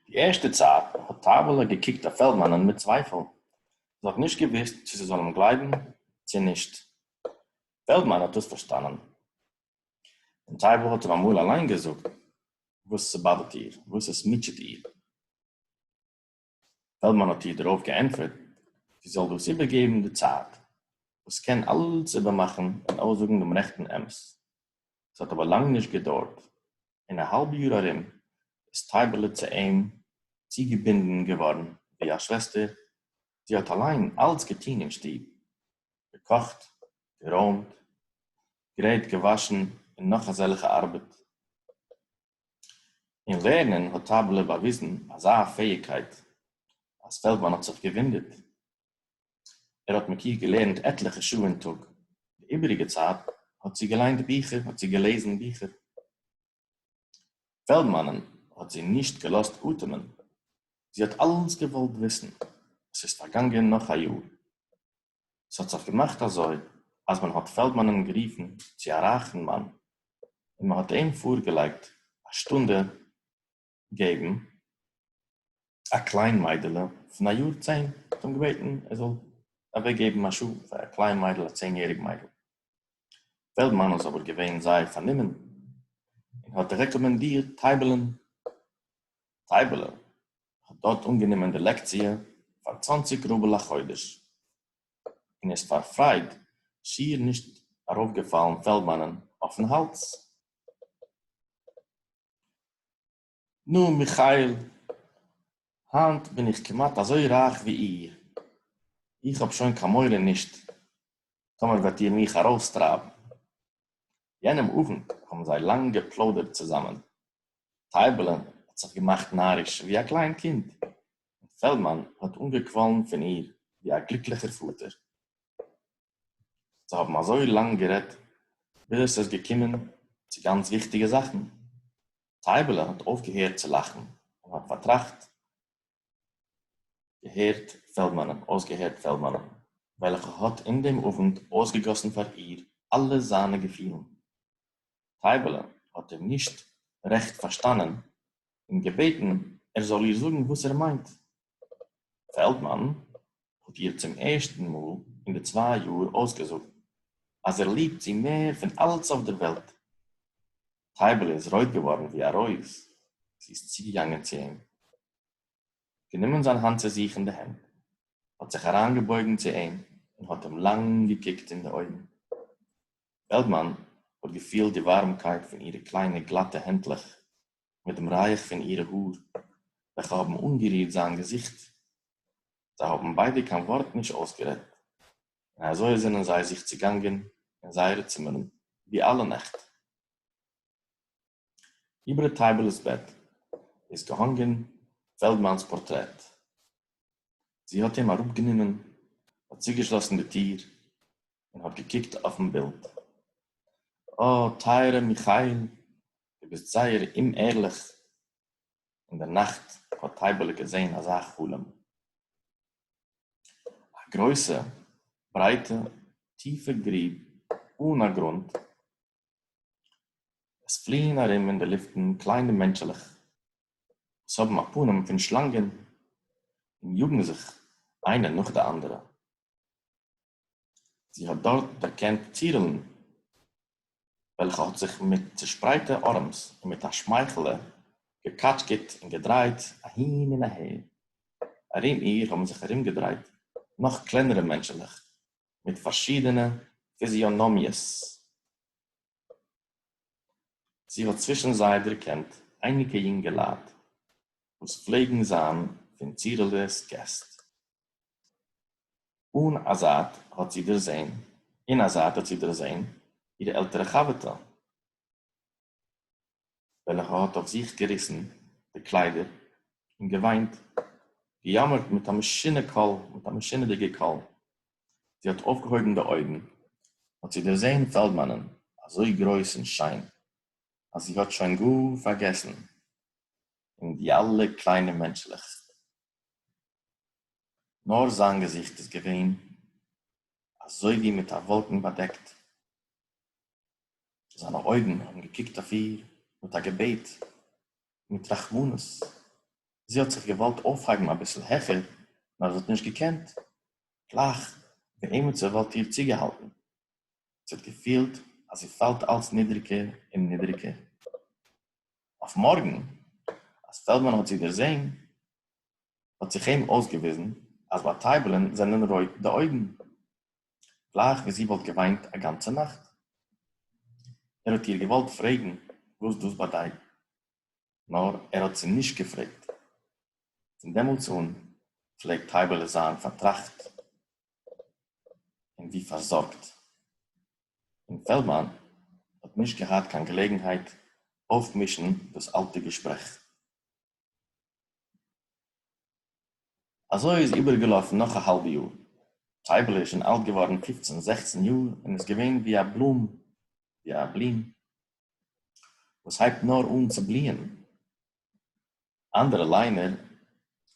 די ערשטע צייט האט טייבעלע געקוקט אויף פעלדמאנען מיט צווייפל, זי האט נישט געוואוסט צו זי זאל אים גלייבן צו נישט. פעלדמאן האט דאס פארשטאנען, און טייבעל האט אים אמאל אליין געזאגט וואס ס'באדערט איר, וואס עס מוטשעט איר. פעלדמאן האט איר דערויף געענטפערט זי זאל דאס איבערגעבן די צייט וואס קען אלס איבערמאכן און אויסזאגן דעם רעכטן אמת. עס האט אבער לאנג נישט געדוירט, אין א האלב יאר ארום איז טייבעלע צו אים צוגעבינדן געווארן ווי א שוועסטער, זי האט אליין אלס געטון אין שטוב, געקאכט, גערוימט, גרייט, געוואשן און נאך אזעלכע ארבעט. אין לערנען האט טאבלער באוויזן אזא פעאיגקייט אז פעלדמאן האט זיך געוואונדערט. ער האט מיט איר געלערנט עטליכע שעה אין טאג, די איבעריגע צייט האט זי געליינט ביכער, האט זי געלעזן ביכער. פעלדמאנ'ן האט זי נישט געלאזט אטעמען, זי האט אלעס געוואלט וויסן. עס איז פארגאנגען נאך א יאר. ס'האָט זיך געמאַכט אַזױ, אַז מען האָט פֿעלדמאַנען גערופֿן צו אַ רײַכן מאַן און מע האָט אים פֿאָרגעלײגט אַ שטונדע געבן אַ קלײן מײדעלע פֿון אַ יאָר צען, האָט אים געבעטן, ער זאָל אַװעקגעבן אַ שעה פֿאַר אַ קלײן מײדל, אַ צען-יעריק מײדל. פֿעלדמאַן איז אָבער געװען זײער פֿאַרנומען און האָט רעקאָמענדירט טײַבעלען. טײַבעלע, האט דארט אנגענומען די לעקציע פאר צוואנציג רובל א חודש, און איז פאר פרייד שיעור נישט ארויפגעפאלן פעלדמאנען אויפן האלז. נו, מיכאל, היינט בין איך כמעט אזוי רייך ווי איר, איך האב שוין קיין מורא נישט טאמער וועט איר מיך ארויסטרייבן. יענעם אָוונט האָבן זיי לאַנג געפּלוידערט צוזאַמען. טייבעלע האָט זיך געמאַכט נאַריש ווי אַ קליין קינד, און פֿעלדמאַן האָט אָנגעקוואָלן פֿון איר ווי אַ גליקלעכער פֿאָטער. זיי האָבן אַזוי לאַנג גערעדט, ביז עס איז געקומען צו גאַנץ וויכטיקע זאַכן. טייבעלע האָט אויפֿגעהערט צו לאַכן און האָט פֿאַרטראַכט, הערט פֿעלדמאַנען, אױסגעהערט פֿעלדמאַנען, װעלכער האָט אין דעם אָװנט אױסגעגאָסן פֿאַר איר אַלע זײַנע געפֿילן. טײַבעלע האָט אים נישט רעכט פֿאַרשטאַנען און געבעטן, ער זאָל איר זאָגן, װאָס ער מײנט. פֿעלדמאַן האָט איר צום ערשטן מאָל אין די צװײ יאָר אױסגעזאָגט, אַז ער ליבט זי מער פֿון אַלץ אױף דער װעלט. טייבעלע איז רויט געווארן ווי א רויז, זי איז צוגעגאנגען צו אים, גענומען זיין האנט צו זיך אין די הענט, האט זיך אריינגעבויגן צו אים און האט אים לאנג געקוקט אין די אויגן. פעלדמאן האט געפילט די ווארעמקייט פון אירע קליינע גלאטע הענטלעך מיט דעם רייך פון אירע האר וועלכע האבן אנגערירט זיין געזיכט. זיי האבן ביידע קיין ווארט נישט אויסגערעדט, און אַזױ זענען זײ זיך צעגאַנגען אין זײערע צימערן, װי אַלע נעכט. איבער טײַבעלעס בעט איז געהאָנגען פֿעלדמאַנס פּאָרטרעט. זי האָט אים אַראָפּגענומען, האָט צוגעשלאָסן די טיר און האָט געקוקט אױפֿן בילד. אָ, טײַערער מיכאַיִל, דו ביסט זײער אומערלעך! אין דער נאַכט האָט טײַבעלע געזען אַזאַ חלום. אַ גרױסע, ברײטע, טיפֿע גריב אָן אַ גרונט. עס פֿליִען אַרום אין די לופֿטן קלײנע מענטשעלעך, װאָס האָבן אַ פּנים פֿון שלאַנגען און יאָגן זיך אײנע נאָך די אַנדערע. זי האָט דאָרט דערקענט טירלען, וועלכע האָט זיך מיט צעשפּרייטע אָרעמס און מיט אַ שמייכעלע געקאַטשקעט און געדרייט אַהין און אַהער. אַרום איר האָבן זיך אַרומגעדרייט נאָך קלענערע מענטשעלעך מיט פאַרשידענע פיזיאָנאָמיעס. זי האָט צווישן זיי דערקענט אייניקע יונגעלייט, וואָס פלעגן זיין פון טירלעס געסט. אָן אַ זײַט האָט זי דערזען, אין אַ זײַט האָט זי דערזען איר עלטערע חבֿרטע, װעלכע האָט אױף זיך געריסן די קלײדער און געװײנט, געיאָמערט מיט אַ משונה קול, מיט אַ משונהדיקער קול. זי האָט אױפֿגעהױבן די אױגן, האָט זי דערזען פֿעלדמאַנען, אַזױ גרױס און שײן, אַז זי האָט שױן גאָר פֿאַרגעסן אין די אַלע קלײנע מענטשלעך, נאָר זײַן געזיכט איז געװען אַזױ װי מיט אַ װאָלקן באַדעקט, זײַנע אױגן האָבן געקוקט אױף איר מיט אַ געבעט און מיט רחמנות. זי האָט זיך געװאָלט אױפֿהײבן אַ ביסל העכער, נאָר זי האָט נישט געקענט, גלײַך װי עמעצער װאָלט איר צוגעהאַלטן. זי האָט געפֿילט, אַז זי פֿאַלט אַלץ נידריקער און נידריקער. אױף מאָרגן, אַז פֿעלדמאַן האָט זי דערזען, האט זיך אים אויסגעוויזן אז ביי טייבלען זענען רויט די אויגן גלייך ווי זי וואלט געוויינט א גאנצע נאכט. ער האט איר געוואלט פרעגן וואס דאס באדייט, נאר ער האט זי נישט געפרעגט. פון דעמאלטס אן פלעגט טייבעלע זיין פארטראכט און ווי פארזארגט, און פעלדמאן האט נישט געהאט קיין געלעגנהייט אויפמישן דאס אלטע געשפרעך. אזוי איז איבערגעלאפן נאך א האלבע יאר, טייבעלע איז שוין אלט געווארן פופצן זעכצן יאר און איז געווען ווי א בלום, ווי א בלום וואס הייבט נאר אן צו בליען, אנדערע ליינער,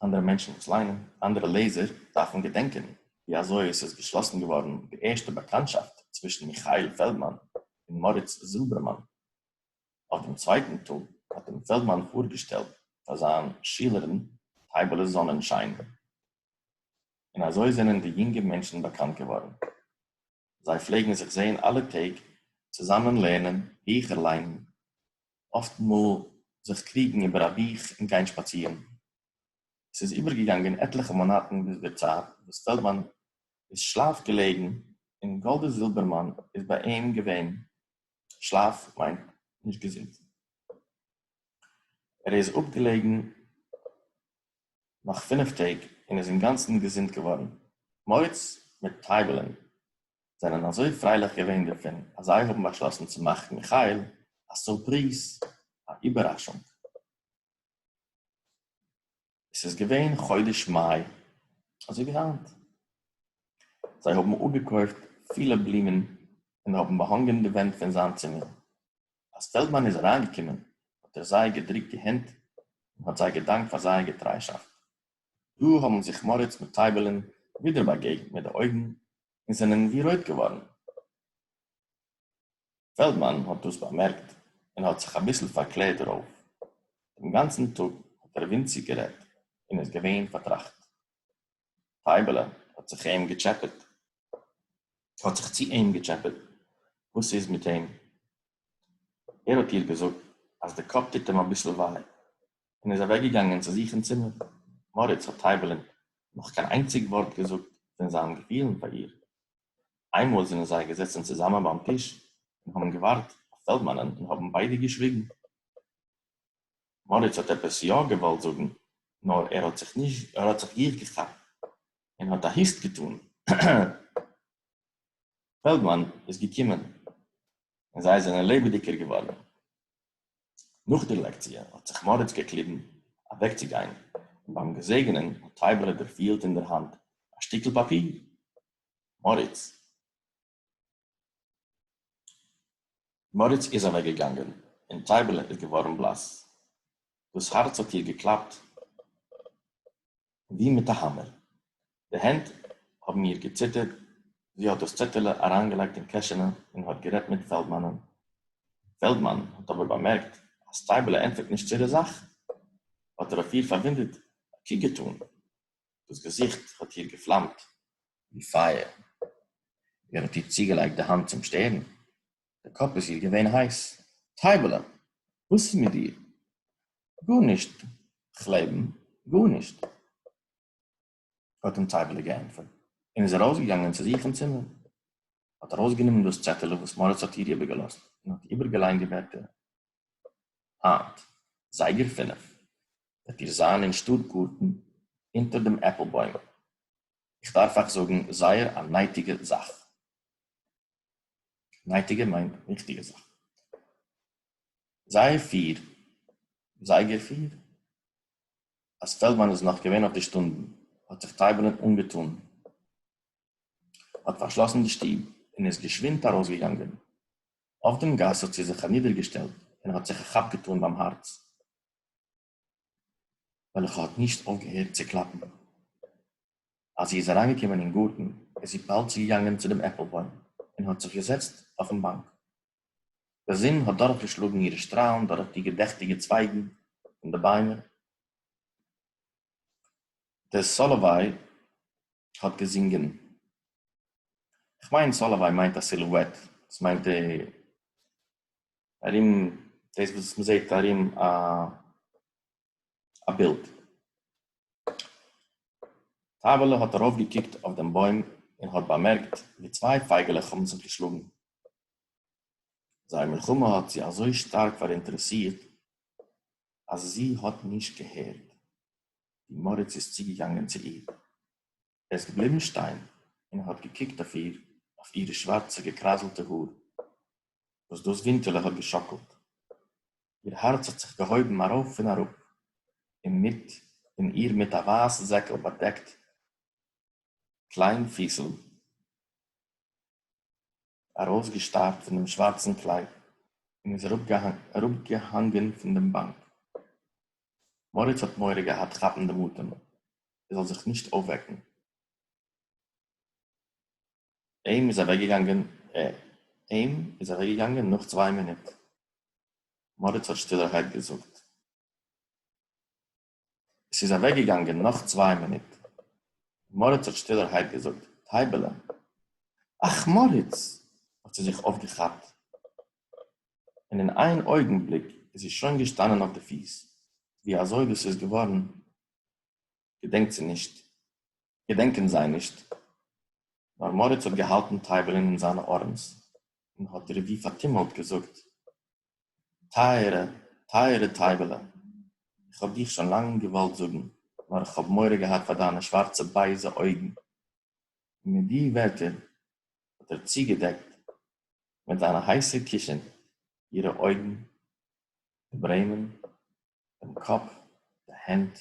אנדערע מענטשן וואס ליינען, אנדערע לעזער דארפן געדענקען ווי אזוי עס איז געשלאסן געווארן די ערשטע באקאנטשאפט צווישן מיכאל פעלדמאן און מאריץ זילבערמאן, אויף דעם צווייטן טאג האט אים פעלדמאן פארגעשטעלט פאר זיין שילערן טייבעלע זאנענשיין, און אזוי זענען די יונגע מענטשן באקאנט געווארן. זיי פלעגן זיך זען אלע טעג, צוזאמען לערנען, ביכער ליינען, אפט מאל זיך קריגן איבער א בוך און גיין שפאצירן. עס איז איבערגעגאנגען עטליכע מאנאטן ביז דער צייט וואס פעלדמאן איז שלאף געלעגן און גאלדע זילבערמאן איז ביי אים געווען שלאף מיינט נישט געזונט. ער איז אפגעלעגן נאך פינף טעג און איז אינגאנצן געזונט געווארן. מוץ מיט טייבלען זענען אזוי פרייליך געווען דערפון אז זיי האבן באשלאסן צו מאכן מיכאל א סורפריז, א איבעראשונג. עס איז געווען חודש מאי, אזוי ווי היינט, זיי האבן אפגעקויפט פילע בלומען און האבן באהאנגען די ווענט פון זיין צימער, אז פעלדמאן איז אריינגעקומען האט ער זיי געדרוקט די הענט און האט זיי געדאנקט פאר זייער געטריישאפט, דא האבן זיך מאריץ מיט טייבעלען ווידער באגעגנט מיט די אויגן און זענען ווי רויט געווארן. פעלדמאן האט דאס באמערקט און האט זיך אביסל פארקלערט דערויף. דעם גאנצן טאג האט ער ווינציג גערעדט און איז געווען פארטראכט. פייבעלע האט זיך אים געטשעפעט, האט זיך צו אים געטשעפעט, וואס איז מיט אים? ער האט איר געזאגט אז די קאפ טוט אים אביסל וויי, און איז אַװעקגעגאַנגען צו זיך אין צימער. מאָריץ האָט טײַבעלען נאָך קײן אײנציק װאָרט געזאָגט פֿון זײַן געפֿילן פֿאַר איר. אײנמאָל זענען זײ געזעצן צוזאַמען בײַם טיש און האָבן געװאַרט אױף פֿעלדמאַנען און האָבן בײדע געשװיגן. מאָריץ האָט עפּעס יאָ געװאָלט זאָגן, נאָר ער האָט זיך נישט, ער האָט זיך גיך געכאַפּט און האָט אַ הוסט געטאָן. פֿעלדמאַן איז געקומען און זײ זענען לעבעדיקער געװאָרן. נאך דער לעקציע האט זיך מאריץ געקליבן אוועקצוגיין, און ביים געזעגענען האט טייבעלע דערפיהלט אין דער האנט א שטיקל פאפיר. מאריץ איז אוועקגעגאנגען, און טייבעלע איז געווארן בלאס. דאס הארץ האט איר געקלאפט ווי מיט א האמער. די הענט האבן איר געציטערט, זי האט דאס צעטעלע אריינגעלייגט אין קעשענע און האט גערעדט מיט פעלדמאנען. פעלדמאן האט אבער באמערקט אז סטייבעלע ענטפערט נישט צו דער זאך, האט ער אויף איר פארוואונדעט א קוק געטאן. דאס געזיכט האט איר געפלאמט ווי פייער. ער האט איר צוגעלייגט די האנט צום שטערן, די קאפ איז איר געווען הייס. טייבעלע, וואס איז מיט דיר? גארנישט, כ'לעבן, גארנישט. האט אים טייבעלע געענטפערט, און איז ארויסגעגאנגען צו זיך אין צימער. האט ארויסגענומען דאס צעטעלע וואס מאריץ האט איר איבערגעלאזט, און האט איבערגעליינט די ווערטער, היינט, זייגער פינף, וועט איר זיין אין שטאט גארטן, אונטער דעם עפל בוים. איך דארף אייך זאגן זייער א נייטיגע זאך. נייטיגע מיינט וויכטיגע זאכן. זייער פֿיר, זייגער פֿיר, אז פעלדמאן איז נאך געווען אויף די שטונדן, האט זיך טייבעלען אנגעטאן, האט פארשלאסן די שטוב און איז געשווינד ארויסגעגאנגען. אויף דעם גאס האט זי זיך אנידערגעשטעלט און האט זיך א כאפ געטאן ביים הארץ. וועלכע האָט נישט אויפֿגעהערט צו קלאַפּן. אַז זי איז אַרײַנגעקומען אין גאָרטן, איז זי באַלד צוגעגאַנגען צו דעם עפּלבוים און האָט זיך געזעצט אויפֿן באַנק. די זון האָט דורכגעשלאָגן אירע שטראַלן דורך די געדעכטיקע צווײַגן פֿון די ביימער. דער סאָלאָוויי האָט געזונגען. כ'מיין, סאָלאָוויי מיינט אַ סילועט. עס מיינט ער. ארום דאס וואס מען זעט ארום א א בילד. טייבעלע האט ארויפגעקוקט אויף דעם בוים און האט באמערקט ווי צוויי פייגעלעך האבן זיך געשלאגן. זייער מלחמה האט זי אזוי שטארק פאראינטערעסירט אז זי האט נישט געהערט ווי מאריץ איז צוגעגאנגען צו איר. ער איז געבליבן שטיין און האט געקוקט אויף איר, אויף אירע שווארצע געקראזלטע האר, וואס דאס ווינקעלע האט געשאקלט. איר הארץ האט זיך געהויבן ארויף און אראפ, און מיט און איר מיט א ווייס זעקל באדעקט קליין פיסל, ארויסגעשטארט פון דעם שווארצן קלייד, און איז אראפגעהאנגען פון דעם באנק. מאריץ האט מורא געהאט כאפן דעם אטעם, ער זאל זיך נישט אויפוועקן. אים איז אוועקגעגאנגען אים איז אוועקגעגאנגען נאך צוויי מינוט. מאריץ האט שטילערהייט געזאגט. עס איז אוועקגעגאנגען נאך צוויי מינוט. מאריץ האט שטילערהייט געזאגט, טייבעלע. אך, מאריץ! האט זי זיך אויפגעכאפט, און אין איין אויגנבליק איז זי שוין געשטאנען אויף די פיס, ווי אזוי דאס איז געווארן געדענקט זי נישט, געדענקען זיי נישט, נאָר מאָריץ האָט געהאַלטן טײַבעלען אין זײַנע אָרעמס און האָט איר װי פֿאַרטומלט געזאָגט, טײַערע, טײַערע טײַבעלע, איך האָב דיך שױן לאַנג געװאָלט זאָגן, נאָר איך האָב מורא געהאַט פֿאַר דײַנע שװאַרצע בײזע אױגן. און מיט די װערטער האָט ער צוגעדעקט מיט זײַנע הײסע קישן אירע אױגן, די ברעמען, דעם קאָפּ, די הענט.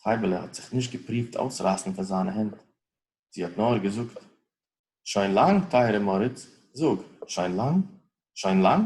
טײַבעלע האָט זיך נישט געפּרוּווט אויסרײַסן פֿון זײַנע הענט. זי האָט נאָר געזאָגט, שוין לאַנג, טײַערע מאָריץ, זאָג, שוין לאַנג? שוין לאַנג?